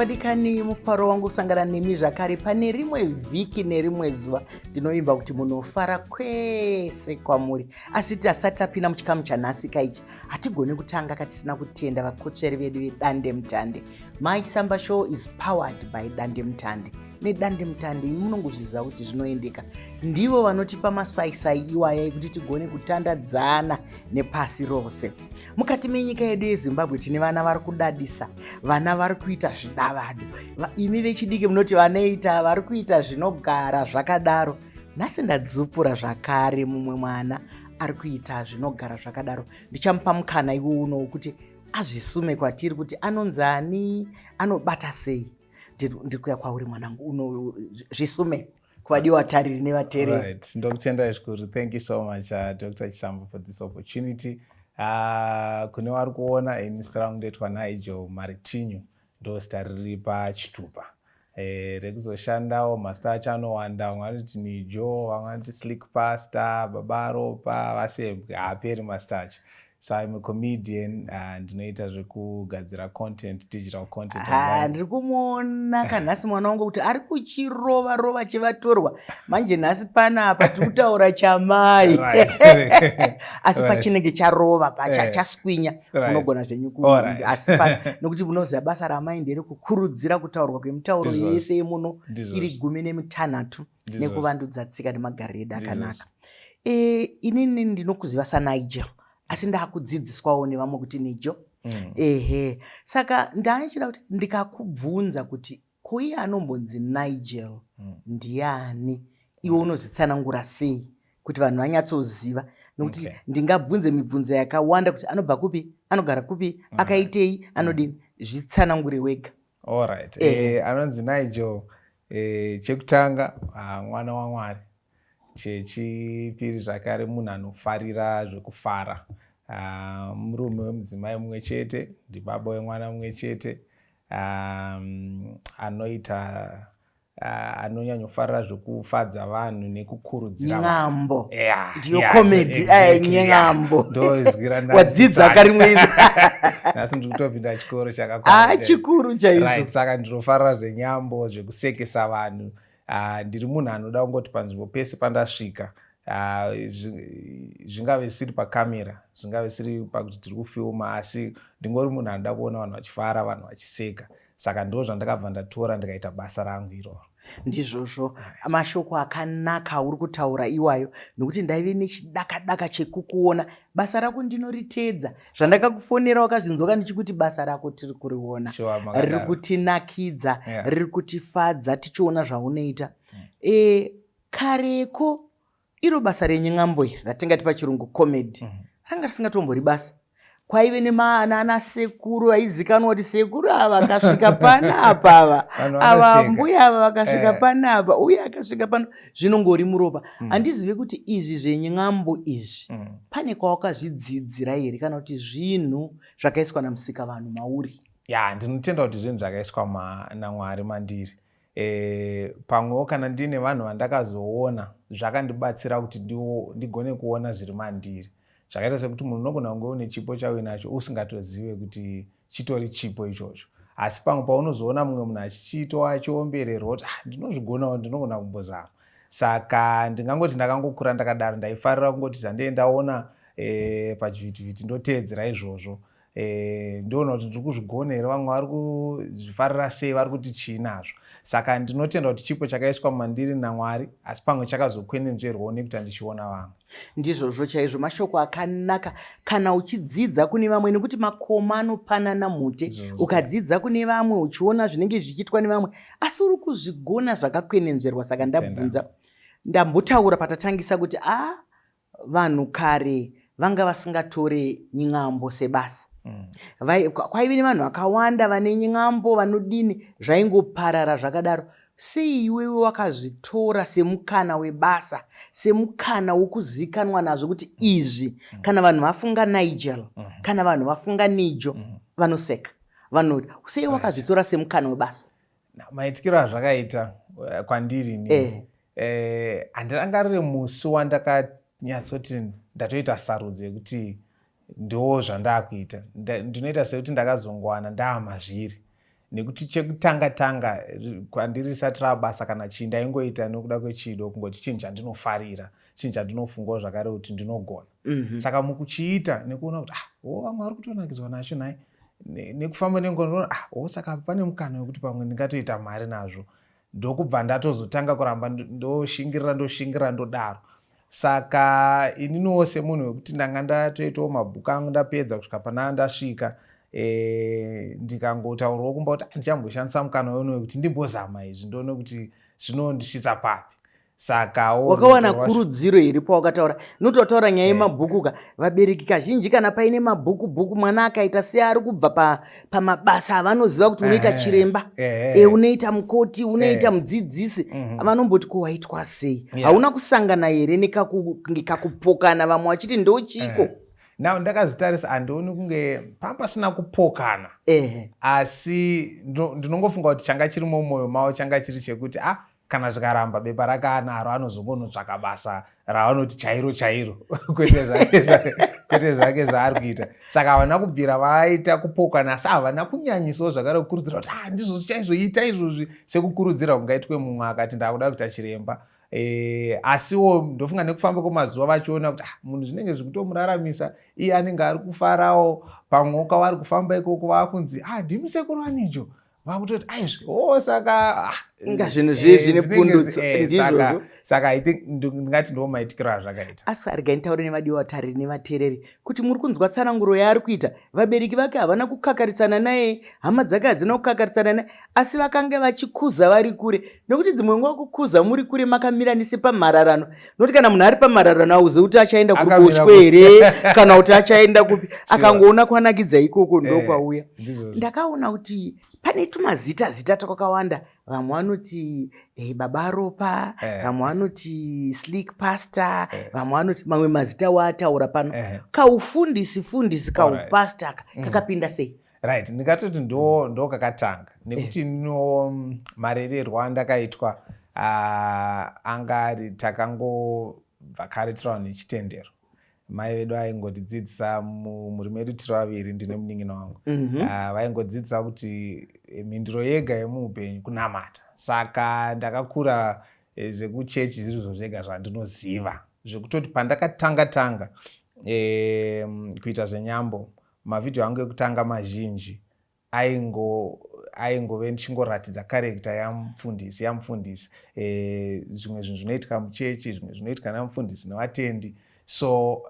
vadikani mufaro wangu kusangana nemi zvakare pane rimwe vhiki nerimwe zuva ndinovimba kuti munofara kwese kwamuri asi tasati tapinda muchikamu chanhasika ichi hatigone kutanga katisina kutenda vakotsveri vedu vedande mutande my samba show is powered by dande mutande nedandemutande imi munongozviziva kuti zvinoendeka ndivo vanotipa masaisai iwaya ekuti tigone kutandadzana nepasi rose mukati menyika yedu yezimbabwe tine vana vari kudadisa vana vari kuita zvidavado imi vechidiki munoti vanoita vari kuita zvinogara zvakadaro nhasi ndadzupura zvakare mumwe mwana ari kuita zvinogara zvakadaro ndichamupa mukana iwo uno wekuti azvisume kwatiri kuti anonzi ani anobata sei ndiri kuya kwauri mwanangu uno zvisume kuvadiwa tariri nevatereri right. ndokutendai zvikuru thank you so much uh, dr chisambo for this opportunity uh, kune wari kuona ini zita rangu ndoitwa nigel maritinyu ndozita riri pachitupa Eh, rekuzoshandawo mazita acho anowanda vamwe vanoti nijo vamwe vanoti slick pasta babaropa vasebwe haaperi mazita acho So I'm a comedian uh, ndinoita zvekugadzira content digital content ah, ndiri kumuona kanhasi mwana wangu kuti ari kuchirova rova chivatorwa manje nhasi panapa tiri kutaura chamai asi pachinenge charova pacha eh. chaswinya unogona zvenyu asi nokuti munoziva basa ramai ndere kukurudzira kutaurwa kwemitauro yese yemuno iri gumi nemitanhatu nekuvandudza tsika nemagariro edu akanaka e, inini ndinokuziva sanigel asi ndakudzidziswawo nevamwe kuti nijo mm. ehe saka ndaichida kuti ndikakubvunza kuti kuiye anombonzi nigel mm. ndiani iwe mm. unozvitsanangura sei kuti vanhu vanyatsoziva nokuti okay. ndingabvunze mibvunzo yakawanda kuti anobva kupi anogara kupi mm. akaitei anodini zvitsanangure wega allright eh. eh, anonzi nigel E, chekutanga ah, mwana waMwari, chechipiri zvakare munhu anofarira zvekufara ah, murume wemudzimai mumwe chete ndibaba wemwana mumwe chete um, anoita uh, anonyanyofarira zvekufadza vanhu neku kurudzira nyambo yeah, ndiyo yeah, comedy exactly, eh, nyambo yeah. ndoizwira wadzidza karimwezi nhasi ndiri kutopinda chikoro chakakwana ah, chikuru chaizvo right, saka ndinofarira zvenyambo zvekusekesa vanhu uh, ndiri munhu anoda kungoti panzvimbo pese pandasvika uh, zvingave siri pakamera zvingave siri pakuti tiri kufilma asi ndingori munhu anoda kuona vanhu vachifara vanhu vachiseka saka ndo zvandakabva ndatora ndikaita basa rangu iroro ndizvozvo mashoko akanaka auri kutaura iwayo nokuti ndaive nechidakadaka chekukuona basa rako ndinoritedza zvandakakufonera wakazvinzoka ndichikuti basa rako tiri kuriona riri kutinakidza riri kutifadza tichiona zvaunoita e, kareko Iro basa renye n'ambo iri ratingati pachirungu comedy mm. ranga risingatombori basa kwaive nemaana sekuru aizikanwa kuti sekuru ava akasvika panapa ava ava mbuya ava vakasvika eh. panapa uye akasvika pano zvinongori muropa mm. handizive mm. kuti izvi zveny'ambo izvi mm. pane kwawakazvidzidzira here kana kuti zvinhu zvakaiswa namusika vanhu mauri ya ndinotenda kuti zvinhu zvakaiswa namwari mandiri E, pamwewo kana ndiine vanhu vandakazoona zvakandibatsira kuti ndigone kuona zviri mandiri zvakaita sekuti munhu unogona kunge une chipo chauinacho usingatozive kuti chitori chipo ichocho asi pamwe paunozoona mumwe munhu achichiitwa achiombererwa kuti ah, ndinozvigonawo ndinogona kumbozama saka ndingangoti ndakangokura ndakadaro ndaifarira kungoti zvandiendaona e, eh, pachivhitivhiti ndoteedzera izvozvo Eh, ndoona kuti ndiri kuzvigona here vamwe vari kuzvifarira sei vari kuti chii nazvo saka ndinotenda kuti chipo chakaiswa mandiri namwari asi pamwe chakazokwenenzverwawo nekuti andichiona vamwe ndizvozvo chaizvo mashoko akanaka kana uchidzidza kune vamwe nekuti makoma anopanana mhute ukadzidza kune vamwe uchiona zvinenge zvichiitwa nevamwe asi uri kuzvigona zvakakwenenzverwa saka ndabvunza ndambotaura patatangisa kuti a ah, Vanhu kare vanga vasingatore ny'ambo sebasa. Mm. Vai, kwaive nevanhu vakawanda vane ny'ambo vanodini zvaingoparara zvakadaro. Sei iwewe wakazvitora semukana webasa, semukana wokuzikanwa nazvo kuti mm. izvi mm. kana vanhu vafunga Nigel, mm. kana vanhu vafunga Nijo, mm. vanoseka. Vanoti, sei wakazvitora semukana webasa? maitikiro azvakaita eh, kwandiri ni eh. eh, handirangarire musi wandakanyatsoti ndatoita sarudzo yekuti ndiwo zvandakuita ndinoita sekuti ndakazongowana ndaamazviri nekuti chekutanga tanga kwandiri risati rabasa kana chii ndaingoita nekuda kwechido kungoti chinhu chandinofarira chinhu chandinofungawo zvakare kuti ndinogona mm -hmm. saka mukuchiita nekuona kuti ah, o vamwe vari kutonakidzwa nacho nhai nekufamba nengonoona ah, o saka pane mukana wekuti pamwe ndingatoita mari nazvo ndokubva ndatozotanga kuramba ndoshingirira ndoshingirira ndodaro saka ininiwo semunhu wekuti ndanga ndatoitawo mabhuku angu ndapedza kusvika panaa ndasvika e, ndikangotaurwa kumba kuti ah, ndichamboshandisa mukana weuno wekuti ndimbozama izvi ndoone kuti zvinondisvitsa papi saka wakawana kurudziro here pawakataura nokuti wataura nyaya eh. yemabhuku ka vabereki kazhinji kana paine mabhuku bhuku mwana akaita seari kubva pamabasa avanoziva kuti unoita eh, chiremba eh, e unoita mukoti unoita mudzidzisi mhm. vanomboti ko waitwa sei hauna kusangana here nekunge kakupokana vamwe vachiti ndochiiko now ndakazitarisa handioni kunge panga pasina kupokana asi ndinongofunga kuti changa chiri mumwoyo mavo changa chiri chekuti a ah, kana zvikaramba bepa rake anaro anozongonotsvaka basa ravanoti chairo chairo kwete zvake zvaari kuita saka havana kubvira vaita kupokana asi havana kunyanyisawo zvakare kukurudzira kuti ah, ndizvo zvichaizoita izvozvi sekukurudzira kungaitwe mumwe akati ndakuda kuita chiremba e, asiwo ndofunga nekufamba kwemazuva vachiona kuti ah, munhu zvinenge zvikutomuraramisa iye anenge ari kufarawo pamwe ukavari kufamba ikoko vakunzi ah, ndimusekuru anijo vakutoti aizvi o oh, saka ah, inga zvinhu eh, zvii zvine pundutso eh, ndizvozvo saka i think ndingati ndiwo maitikiro azvakaita asi arigai nitaure nevadiwa vatariri nevateereri kuti muri kunzwa tsananguro yaari kuita vabereki vake havana kukakaritsana naye hama dzake hadzina kukakaritsana naye asi vakange vachikuza vari kure nokuti dzimwe nguva kukuza muri kure makamira nise pamhararano nokuti kana munhu ari pamhararano auzivi kuti achaenda kuruboshwe here kana kuti achaenda kupi akangoona kwanakidza ikoko eh, ndokwauya ndakaona kuti pane tumazita zita twakawanda vamwe vanoti hey, eh, baba ropa eh. vamwe vanoti slick pastor vamwe vanoti mamwe mazita waataura pano kaufundisi fundisi kaupasta kakapinda sei right ndingatoti ndo ndo kakatanga nekuti eh. no mm, marererwo andakaitwa uh, anga ari takangobva kare tiri vanhu nechitendero mai vedu vaingotidzidzisa mhuri medu tiri vaviri ndine munin'ina wangu mhm. ah, vaingodzidzisa mm -hmm. uh, kuti eh, mhinduro yega yemuupenyu kunamata saka ndakakura eh, zvekuchechi zviri zvo zvega zvandinoziva zvekutoti pandakatanga tanga eh, kuita zvenyambo Mavhidhiyo angu ekutanga mazhinji aingo aingove ndichingoratidza karekta yamufundisi yamufundisi eh, zvimwe zvinhu zvinoitika muchechi zvimwe zvinoitika namufundisi nevatendi so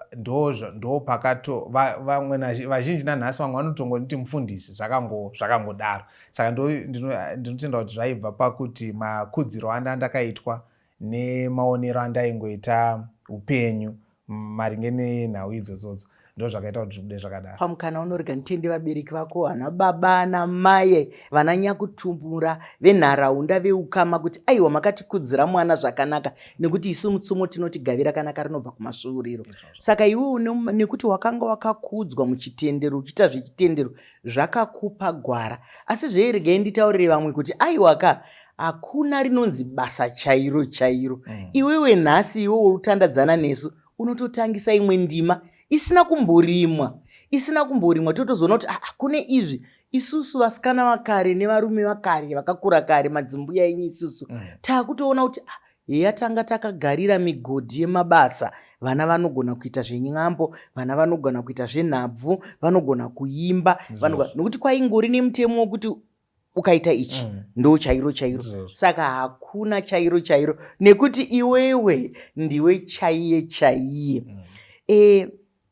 ndopakato vamwe vazhinji nanhasi vamwe vanotongonditi mufundisi zvakangodaro saka ndinotenda kuti zvaibva pakuti makudziro andandakaitwa nemaonero andaingoita upenyu maringe nenhau idzodzodzo ndo zvakaita kuti zvibude zvakadaro pamukana unorega nditende vabereki vako vana baba ana maye vana nyakutumura venharaunda veukama kuti aiwa makatikudzira mwana zvakanaka nekuti isu mutsumo tinoti gavi rakanaka rinobva kumasvuuriro saka iwe nekuti wakanga wakakudzwa muchitendero uchiita zvechitendero zvakakupa gwara asi zveregai nditaurire vamwe kuti aiwaka hakuna rinonzi basa chairo chairo mm. iwewe nhasi iwe urutandadzana nesu unototangisa imwe ndima isina kumborimwa isina kumborimwa totozoona kuti ah, kune izvi isusu vasikana vakare nevarume vakare vakakura kare madzimbuya enyu isusu mm. taakutoona kuti ah, heya tanga takagarira migodhi yemabasa vana vanogona kuita zvenyambo vana vanogona kuita zvenhabvu vanogona kuimba nokuti kwaingori nemutemo wokuti ukaita ichi mm. ndo chairo chairo saka hakuna chairo chairo nekuti iwewe ndiwe chaiye chaiye mm. e,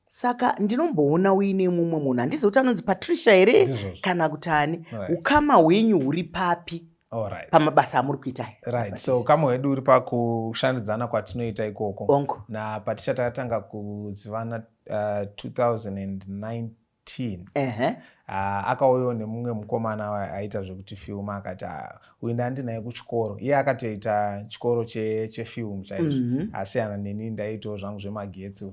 saka ndinomboona uine mumwe munhu handizi kuti anonzi patricia here kana kuti ani ukama hwenyu huri papi Right. pamabasa amuri kuita right. so ukama hwedu uri pakushandidzana kwatinoita ikoko napatichatanga kuzivana uh, 2019 teen uh -huh. uh, akauyawo nemumwe mukomana aita zvekuti film akati ah, uyu ndandinaye kuchikoro iye akatoita chikoro chefilm che chaizvo mm -hmm. asiyana neni ndaiitawo zvangu zvemagetsi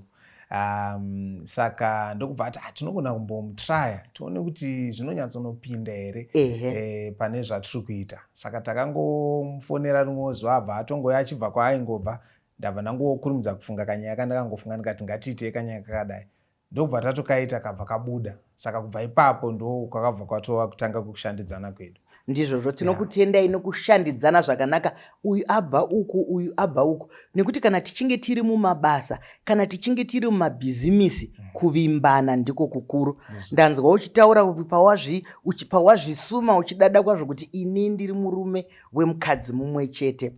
um, saka ndokubva ati hatinogona ah, kumbomutraya tione kuti zvinonyatsonopinda here e, pane zvatiri kuita saka takangomufonera rimwe zuva abva atongoya achibva kwaaingobva ndabva ndangokurumidza kufunga kanyaya ka ndakangofunga ndikati ngatiitei kanyaya kakadai ndokubva tatokaita kabva kabuda saka kubva ipapo ndo kwakabva kwatova kutanga kwekushandidzana kwedu ndizvozvo tinokutendai yeah. nokushandidzana zvakanaka uyu abva uku uyu abva uku nekuti kana tichinge tiri mumabasa kana tichinge tiri mumabhizimisi mm. kuvimbana ndiko kukuru ndanzwa uchitaura pawazvisuma uchidada kwazvo kuti ini ndiri murume wemukadzi mumwe chete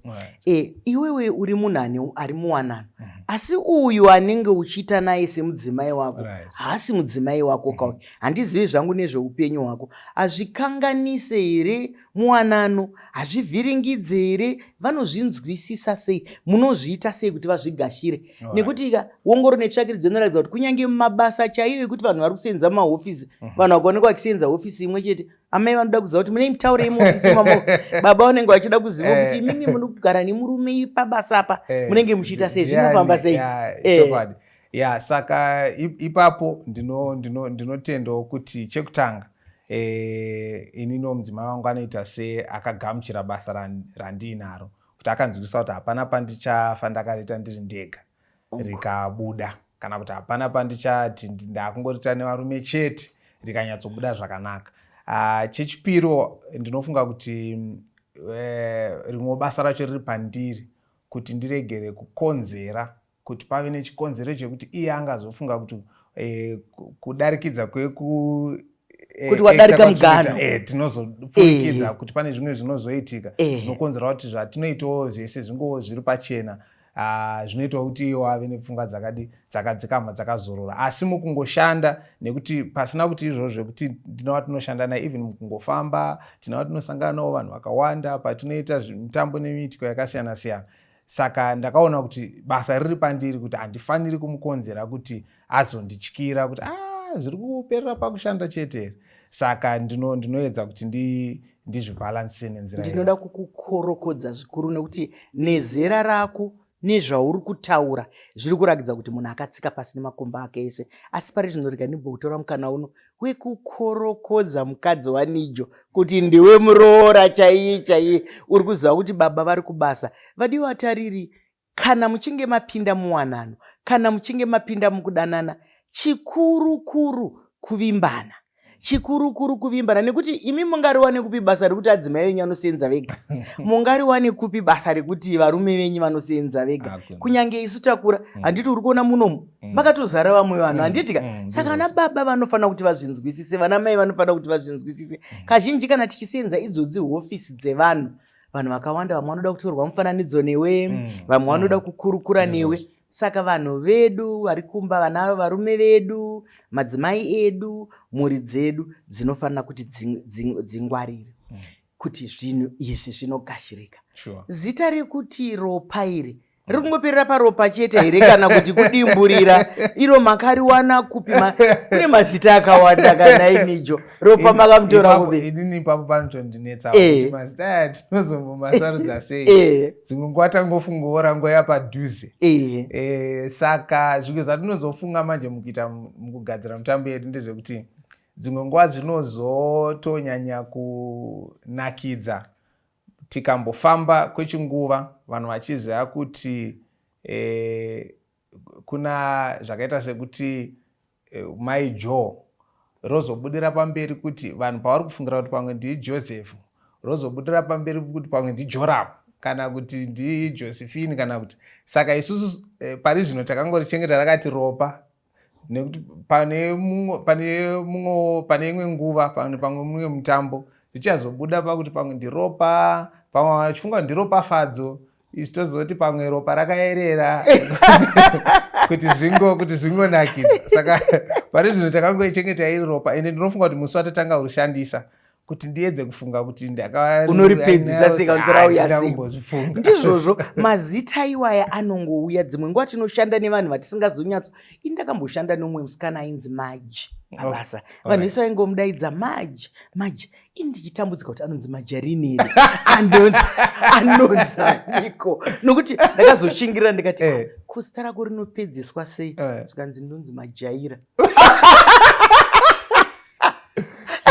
e, iwewe uri munhu ane ari muwanano mm -hmm. asi uyu anenge uchiita naye semudzimai wako right. haasi mudzimai wako mm -hmm. kauyu handizivi zvangu nezveupenyu hwako hazvikanganise here muwanano hazvivhiringidze here vanozvinzwisisa sei munozviita sei kuti vazvigashire right. nekuti ka wongoro netsvakiridzo inoratidza kuti kunyange mumabasa chaiyo ekuti vanhu vari kusenza mumahofisi mm -hmm. vanhu vakaonekwa vachisenza hofisi imwe chete amai vanoda kuziva kuti mune mitauro yemuofisimamo baba vanenge vachida kuziva eh. kuti imimi mune kugara nemurume pabasa apa eh. munenge muchiita sei zvinofamba sei eh. ya saka ipapo ndinotendawo kuti chekutanga inino mudzimai wangu anoita seakagamuchira basa randiinaro kuti akanzwisa kuti hapana pandichafa ndakariita ndiri ndega rikabuda kana kuti hapana pandichati ndakungorita nevarume chete rikanyatsobuda zvakanaka ah, chechipiro ndinofunga kuti eh, rimwe basa racho riri pandiri kuti ndiregere kukonzera kuti pave nechikonzero chekuti iye angazofunga kuti eh, kudarikidza kweku Eh, kuti wadarika eh, mugano eh, tinozopfurikidza kuti pane zvimwe zvinozoitika nokonzera kuti zvatinoitawo zvese zvingowo zviri pachena Ah, zvinoitawo kuti iwo ave nepfungwa dzakadi dzakadzikama dzakazorora asi mukungoshanda nekuti pasina kuti izvozvo zvekuti ndina watinoshanda naye even mukungofamba tina watinosangana nawo vanhu vakawanda patinoita mitambo nemiitiko yakasiyana siyana saka ndakaona kuti basa riri pandiri kuti handifaniri kumukonzera kuti azondityira kuti ah, zviri kuperera pakushanda chete here saka ndinoedza kuti ndi ndizvibhalanse nenzira ndinoda kukukorokodza zvikuru nekuti nezera rako nezvauri kutaura zviri kurakidza kuti munhu akatsika pasi nemakomba ake ese asi pari zvino rega ndimbokutora mukana uno wekukorokodza mukadzi wanijo kuti ndiwe muroora chaiye chaiye uri kuziva kuti baba vari kubasa vadiwa tariri Kana muchinge mapinda muwanano, kana muchinge mapinda mukudanana, chikuru kuru kuvimbana chikuru kuru kuvimbana nekuti imi mungariwane kupi basa rekuti adzimai venyu vanoseenza vega mungariwane kupi basa rekuti varume venyu vanoseenza vega kunyange isu takura mm. handiti uri kuona munomu mm. makatozara vamwe vanhu mm. handitika saka vana baba vanofanira kuti vazvinzwisise vana mai vanofanira kuti vazvinzwisise kazhinji kana tichiseenza idzodzi hofisi dzevanhu vanhu vakawanda vamwe vanoda kutorwa mufananidzo newe mm. vamwe vanoda mm. kukurukura newe saka vanhu vedu vari kumba vana varume vedu madzimai edu mhuri dzedu dzinofanira kuti dzingwarire mm. kuti zvinhu izvi zvinogashirika zita rekuti ropa iri riri kungoperera paropa chete here kana kuti kudimburira iro makariwana kupi kune mazita akawanda kana imijo ropa makamutora kupi inini ipapo panotondinetsa eh. mazita aya tinozombomasarudza eh. sei eh. dzimwe nguva tangofunga orango yapadhuze saka zvimwe zvatinozofunga manje mukuita mukugadzira mutambo yedu ndezvekuti dzimwe nguva zvinozotonyanya kunakidza Tikambofamba kwechinguva vanhu vachiziva kuti e, kuna zvakaita sekuti e, mai Joe rozobudira pamberi kuti vanhu pavari kufungira kuti pamwe ndii Joseph rozobudira pamberi kuti pamwe ndiJoramu kana kuti ndijosephine kana kuti saka isusu eh, pari zvino takangorichengeta rakati ropa nekuti pane mumwe pane mumwe pane imwe nguva pane pamwe mumwe mutambo zvichazobuda pakuti pamwe ndiropa pamwe vachifunga kuti ndiropafadzo isu tozoti pamwe ropa rakayerera kuti zvingo kuti zvingonakidza saka pane zvino takangoichengeta iri ropa ende ndinofunga kuti musi watatanga kurishandisa kuti ndiedze kufunga kuti ndakaunoripidzisa seka nzira uyasingozifunga ndizvozvo mazita iwaya anongouya dzimwe nguva tinoshanda nevanhu vatisingazonyatso ini ndakamboshanda neumwe musikana ainzi maji pabasa oh, oh, vanhu vese vaingomudaidza maji maji ini ndichitambudzika kuti anonzi majarini iri anonzi anonzi aniko nokuti ndakazoshingirira ndikati eh. kusita rako rinopedzeswa sei eh. zvikanzi ndonzi majaira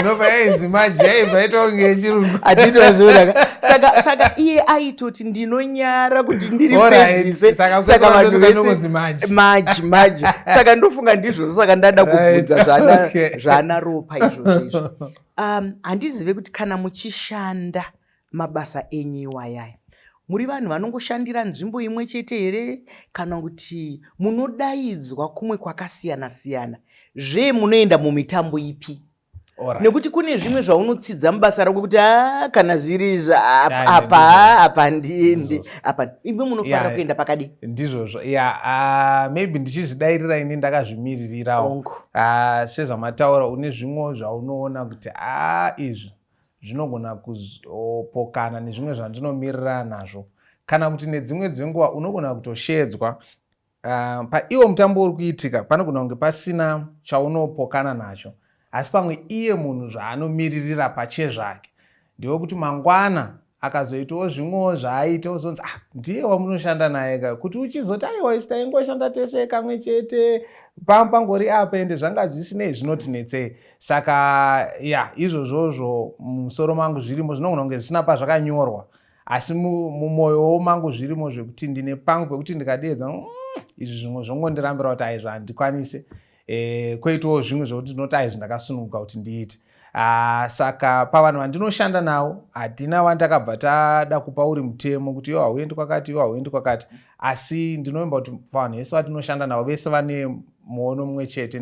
zvinobva yainzi maji yaibva itonge yechirungu atiitwa zvoonaka saka saka iye aitoti ndinonyara kuti ndiri pedzise saka vanhu vese maji maji saka ndofunga ndizvozvo saka ndada kubvunza zvana zvana ropa izvozvo izvo um, handizive kuti kana muchishanda Mabasa enyu iwaya muri vanhu vanongoshandira nzvimbo imwe chete here kana kuti munodaidzwa kumwe kwakasiyana siyana zve munoenda mumitambo ipi right. nekuti kune zvimwe zvaunotsidza mubasa rako kuti a ah, kana zviri apa apa ndiendi apa imwe munofanira yeah, kuenda pakadi ndizvozvo ya yeah, uh, maybe ndichizvidairira ini ndakazvimiririrawo uh, sezvamataura une zvimwewo zvaunoona kuti a ah, izvi zvinogona kuzopokana nezvimwe zvandinomirirana nazvo kana kuti nedzimwe dzenguva unogona kutosheedzwa uh, paiwo mutambo uri kuitika panogona kunge pasina chaunopokana nacho asi pamwe iye munhu zvaanomiririra pachezvake ndewekuti mangwana akazoitawo zvimwewo zvaaita ozonzi ah ndiye wamunoshanda naye ka kuti uchizoti aiwa isi taingoshanda tese kamwe chete pam pangori apa ende zvanga zvisinei zvinotinetsei saka ya izvozvozvo mumusoro mangu zvirimo zvinogona kunge zvisina pazvakanyorwa asi mumwoyowo mangu zvirimo zvekuti ndine pangu pekuti ndikadeedza mm, izvi zvimwe zvongondirambira kuti aizvo handikwanise e, kwoitawo zvimwe zvokuti ndinoti aizvi ndakasununguka kuti ndiite ah, saka pavanhu vandinoshanda navo hatina vandakabva tada kupa uri mutemo kuti yo hauendi kwakati yo hauendi kwakati asi ndinovimba kuti vanhu vese vatinoshanda navo vese vane muono mumwe chete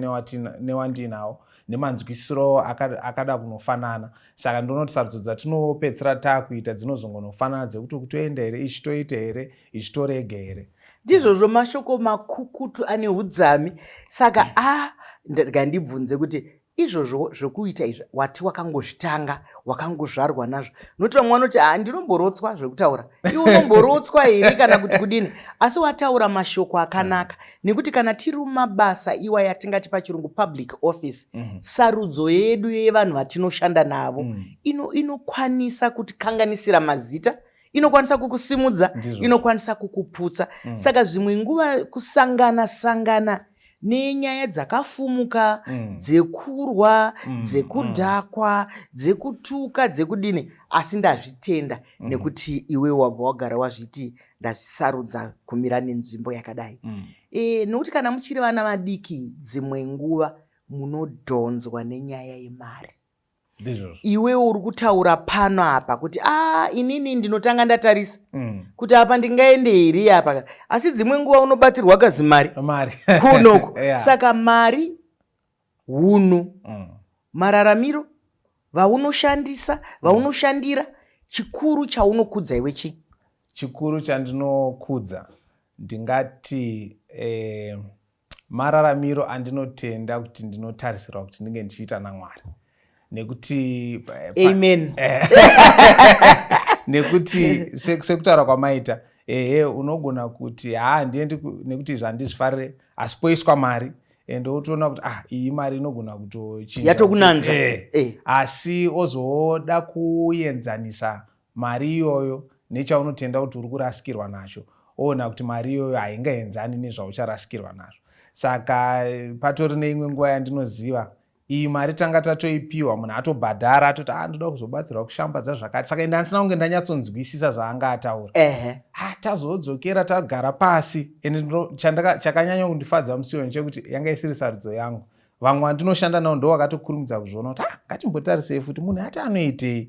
newandiinawo nemanzwisiro akada kunofanana saka ndonoti sarudzo dzatinopedzisira taakuita dzinozongonofanana dzekuti kutoenda here ichi toita here ichitorega here ndizvozvo mashoko makukutu ane udzami saka a ngandibvunze kuti izvozvo zvokuita izvi wati wakangozvitanga wakangozvarwa nazvo nokuti vamwe vanoti ha ndinomborotswa zvekutaura iwe unomborotswa here kana kuti kudini asi wataura mashoko akanaka nekuti kana tiri mumabasa iwa yatingati pachirungu public office mhm. sarudzo yedu yevanhu vatinoshanda navo mhm. inokwanisa kutikanganisira mazita inokwanisa kukusimudza inokwanisa kukuputsa mm. saka zvimwe nguva kusangana sangana nenyaya dzakafumuka mm. dzekurwa mm. dzekudhakwa mm. dzekutuka dzekudini asi ndazvitenda mm. nekuti iwe wabva wagara wazviti ndazvisarudza kumira nenzvimbo yakadai mm. e, nokuti kana muchiri vana vadiki dzimwe nguva munodhonzwa nenyaya yemari iwewo uri kutaura pano apa kuti a ah, inini ndinotanga ndatarisa mm. kuti apa ndingaende here apa asi dzimwe nguva unobatsirwa kazimari kunoko yeah. saka mari hunhu mm. mararamiro vaunoshandisa vaunoshandira mm. chikuru chaunokudza iwe chii chikuru chandinokudza ndingati eh, mararamiro andinotenda kuti ndinotarisirwa kuti ndinge ndichiita namwari nekuti eh, amen eh. nekuti sekutaura kwamaita ehe unogona kuti haa ah, ndiendi nekuti izvi handizvifarire asi poiswa mari and otoona kuti ah iyi mari inogona kutochinja yatokunanzva eh. eh. asi ozoda kuenzanisa Mari iyoyo nechaunotenda kuti uri kurasikirwa nacho oona kuti mari iyoyo haingaenzani nezvaucharasikirwa nazvo. Saka patori neimwe nguva yandinoziva iyi mari tanga tatoipiwa munhu atobhadhara atoti a ah, ndoda kuzobatsirwa kushambadza zvakati saka ende andisina kunge ndanyatsonzwisisa zvaanga ataura ha tazodzokera tagara pasi ende chakanyanya kundifadza musioni chekuti yanga isiri sarudzo yangu vamwe vandinoshanda navo ndo vakatokurumidza kuzviona kuti ah, ngatimbotarisei futi munhu ati anoitei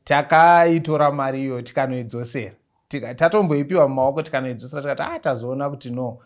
takaitora mari iyoyo tikanoidzosera tatomboipiwa mumaoko tikanoidzosera tikati a ah, tazoona kuti no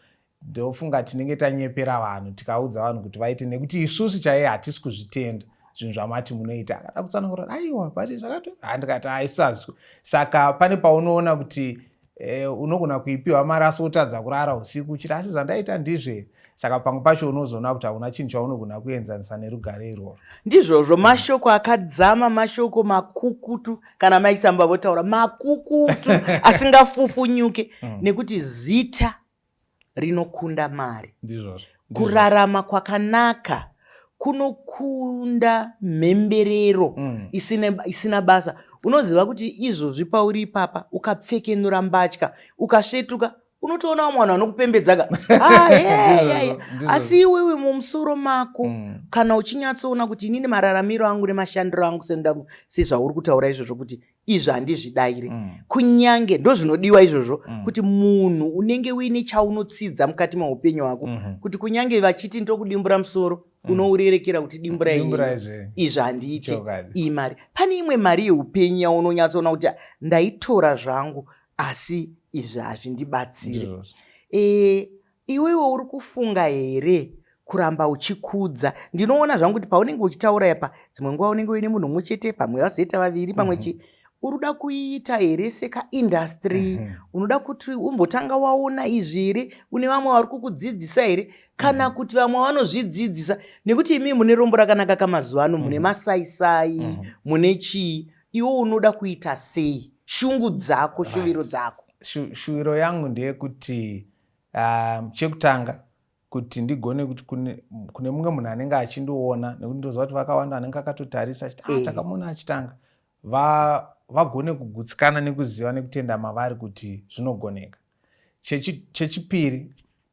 ndofunga tinenge tanyepera vanhu tikaudza vanhu kuti vaite nekuti isusu chaiye hatisi kuzvitenda zvinhu zvamati munoita akada kutsanangura aiwa but zvakatohandikati aisazwi saka pane paunoona kuti eh, unogona kuipiwa mari asi wotadza kurara usiku uchiti asi zvandaita ndizve saka pamwe pacho unozoona kuti hauna chinhu chaunogona kuenzanisa nerugare irworwo ndizvozvo mashoko akadzama mashoko makukutu kana maisamba votaura makukutu asingafufunyuke mm. nekuti zita rinokunda mari kurarama kwakanaka kunokunda mhemberero mm. isina, isina basa unoziva kuti izvozvi pauri ipapa ukapfekenura mbatya ukasvetuka unotoona vamwe vanhu vanokupembedzaka ah, asi iwewe mumusoro mako mm. kana uchinyatsoona kuti inini mararamiro angu nemashandiro angu sezvauri kutaura izvozvo kuti izvi handizvidaire mm. kunyange ndozvinodiwa izvozvo mm. kuti munhu unenge uine chaunotsidza mukati meupenyu hwako mm -hmm. kuti kunyange vachiti ndokudimbura musoro mm. unourerekera kuti dimbura izvi izvi handiite iyi mari pane imwe mari yeupenyu yaunonyatsoona kuti ndaitora zvangu asi izvi hazvindibatsire e, Iwewe uri kufunga here kuramba uchikudza? Ndinoona zvangu kuti paunenge uchitaura apa dzimwe nguva unenge uine munhu umwe chete, pamwe vazoita vaviri, pamwe mhm. chi mm -hmm uri kuda kuiita here sekaindastry mm -hmm. unoda kuti umbotanga waona izvi here une vamwe vari kukudzidzisa here kana mm -hmm. kuti vamwe vanozvidzidzisa nekuti imi mune rombo rakanaka kamazuva ano mune mhm. masaisai mm -hmm. mune chii iwe unoda kuita sei shungu dzako right. shuviro dzako Shu, shuviro yangu ndeyekuti Ah, chekutanga kuti ndigone kuti kune, kune mumwe munhu anenge achindiona nekuti ndoziva kuti vakawanda anenge akatotarisa achiti ah, eh. takamuona achitanga va vagone kugutsikana nekuziva nekutenda mavari kuti zvinogoneka chechipiri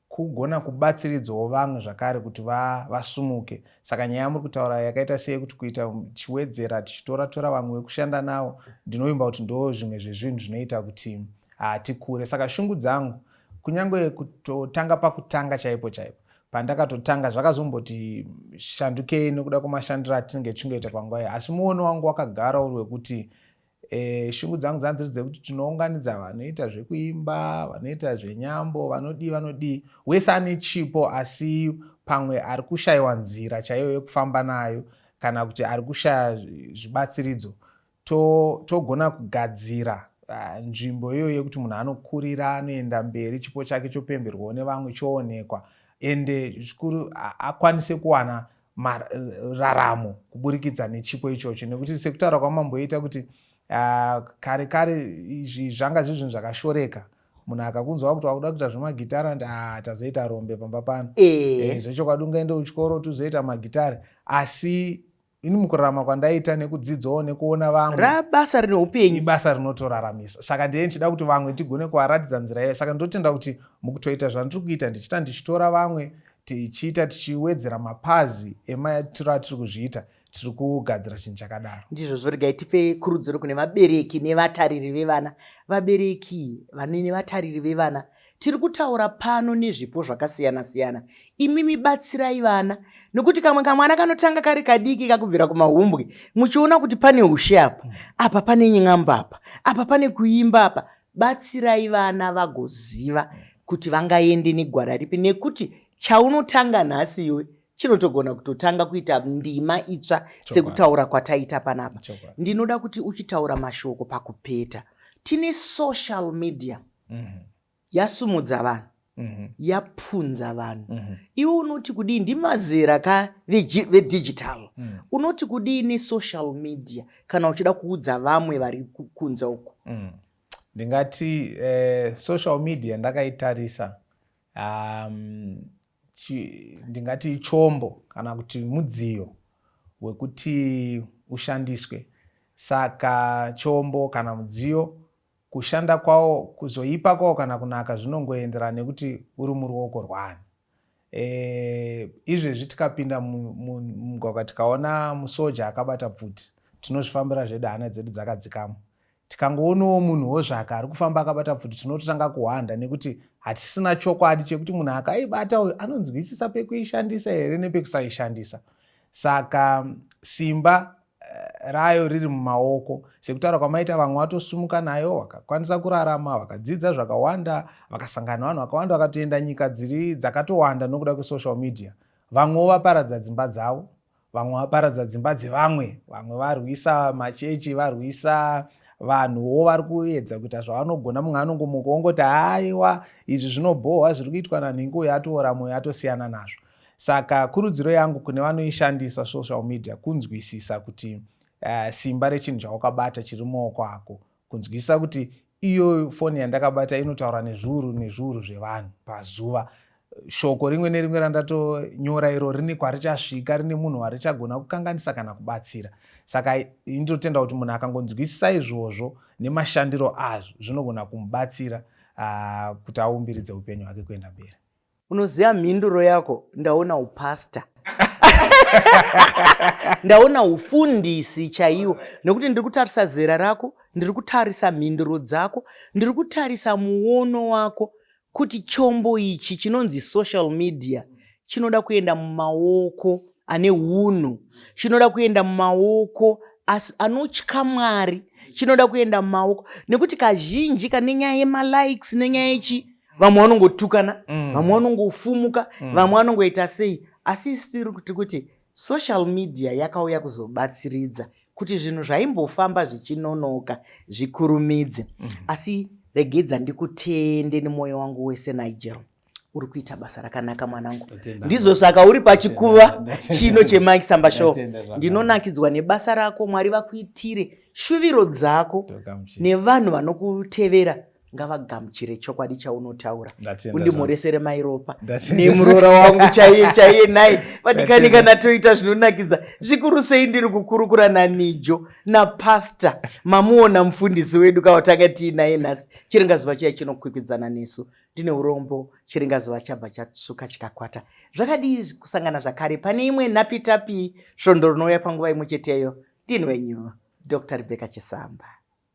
kugona kubatsiridzawo vamwe zvakare kuti va, vasumuke saka nyaya yamuri kutaura yakaita sei kuti kuita tichiwedzera tichitora tora vamwe vekushanda navo ndinovimba kuti ndo zvimwe zvezvinhu zvinoita kuti hati kure saka shungu dzangu kunyange kutotanga pakutanga chaipo chaipo pandakatotanga zvakazomboti shandukei nokuda kwemashandiro atinenge tichingoita panguva iyi asi muono wangu wakagara uri wekuti e, shungu dzangu dzanga dziri dzekuti tinounganidza vanoita zvekuimba vanoita zvenyambo vanodii vanodii wese ane chipo asi pamwe ari kushayiwa nzira chaiyo yekufamba nayo kana kuti ari kushaya zvibatsiridzo togona to kugadzira Ah, nzvimbo iyoyo yekuti munhu anokurira anoenda mberi chipo chake chopemberwawo nevamwe choonekwa ende zvikuru akwanise kuwana raramo kuburikidza nechipo ichocho nekuti sekutaura kwamamboita kuti ah, kare kare izvi zvanga zviri zvinhu zvakashoreka munhu akakunzwa kuti wakuda kuita zvemagitare andi ah, tazoita rombe pamba pano eh. eh, zvechokwadi ungaende kuchikoro tizoita magitare asi ini mukurarama kwandaita nekudzidzawo nekuona vamwe rabasa rine upenyu ibasa rinotoraramisa saka ndiye ndichida kuti vamwe ndigone kuvaratidza nzira iyoyo saka ndotenda kuti mukutoita zvandiri kuita ndichita ndichitora vamwe tichiita tichiwedzera mapazi emaitiro atiri kuzviita tiri kugadzira chinhu chakadaro ndizvo zvoregai tipe kurudziro kune vabereki nevatariri vevana vabereki vanene vatariri vevana Tiri kutaura pano nezvipo zvakasiyana siyana. Imimi batsirai vana nokuti kamwe kamwana kanotanga kari kadiki kakubvira kumahumbwe muchiona kuti pane ushe apa, apa pane ny'amba apa, apa pane kuimba apa. Batsirai vana vagoziva kuti vangaende negwara ripi nekuti chaunotanga nhasi iwe chinotogona kutotanga kuita ndima itsva sekutaura kwataita panapa. Ndinoda kuti uchitaura mashoko pakupeta. Tine social media. mm-hmm. yasumudza vanhu mm-hmm. yapunza vanhu mm-hmm. iwe unoti kudii ndimazera ka vedigital mm. unoti kudii nesocial media kana uchida kuudza vamwe vari kunze uko mm. ndingati eh, social media ndakaitarisa um, ndingati chombo kana kuti mudziyo wekuti ushandiswe saka chombo kana mudziyo Kushanda kwawo, kuzoipa kwawo kana kunaka zvinongoenderana nekuti uri muruoko rwaani. E, izvezvi tikapinda mumugwagwa tikaona musoja akabata pfuti tinozvifambira zvedu hana dzedu dzakadzikamo tikangoonawo munhu wozvaka ari kufamba akabata pfuti tinototanga kuhwanda nekuti hatisina chokwadi chekuti munhu akaibata uyu anonzwisisa pekuishandisa here nepekusaishandisa saka simba rayo riri mumaoko sekutaura kwamaita vamwe vatosumuka nayo vakakwanisa kurarama vakadzidza zvakawanda vakasangana vanhu vakawanda vakatoenda nyika dziri dzakatowanda nokuda kwesocial media vamwewo vaparadza dzimba dzavo vamwe vaparadza dzimba dzevamwe vamwe varwisa machechi varwisa vanhuwo vari kuedza kuita zvavanogona mumwe anongomuka wongoti haiwa izvi zvinobhohwa zviri kuitwa nanhingi uyo atoora mwoyo atosiyana nazvo Saka kurudziro yangu kune vanoishandisa social media kunzwisisa kuti uh, simba rechinhu chawakabata chiri muoko ako, kunzwisisa kuti iyo foni yandakabata inotaura nezviuru nezviuru zvevanhu pazuva shoko rimwe nerimwe randatonyora iro rini kwarichasvika rine munhu warichagona kukanganisa kana kubatsira saka ndinotenda kuti munhu akangonzwisisa izvozvo nemashandiro azvo zvinogona kumubatsira uh, kuti aumbiridze upenyu hwake kuenda mberi unoziva mhinduro yako ndaona upastor ndaona ufundisi chaiwo nekuti ndiri kutarisa zera rako ndiri kutarisa mhinduro dzako ndiri kutarisa muono wako kuti chombo ichi chinonzi social media chinoda kuenda mumaoko ane unhu chinoda kuenda mumaoko asi anotya mwari chinoda kuenda mumaoko nekuti kazhinji kane nyaya yemalikes nenyaya yechii vamwe vanongotukana mm. vamwe vanongofumuka mm. vamwe vanongoita sei asi isi tiri kuti kuti social media yakauya kuzobatsiridza kuti zvinhu zvaimbofamba zvichinonoka zvikurumidze mm. asi regedza ndikutende nemwoyo wangu wese nigel uri kuita basa rakanaka mwanangu ndizvo saka uri pachikuva chino chemike samba show ndinonakidzwa nebasa rako mwari vakuitire shuviro dzako nevanhu vanokutevera ngavagamuchire chokwadi chaunotaura undimhoresere mairopa nemuroora wangu chaiye chaiye nhai vadikani kana toita zvinonakidza zvikuru sei ndiri kukurukura nanijo napasta mamuona mufundisi wedu kawatanga tiinaye nhasi chiringazuva chiya chinokwikwidzana nesu ndine urombo chiringazuva chabva chasuka chikakwata zvakadii kusangana zvakare pane imwe napitapi svondo rinouya panguva imwe cheteyo ndinwenyu dr rebeka chisamba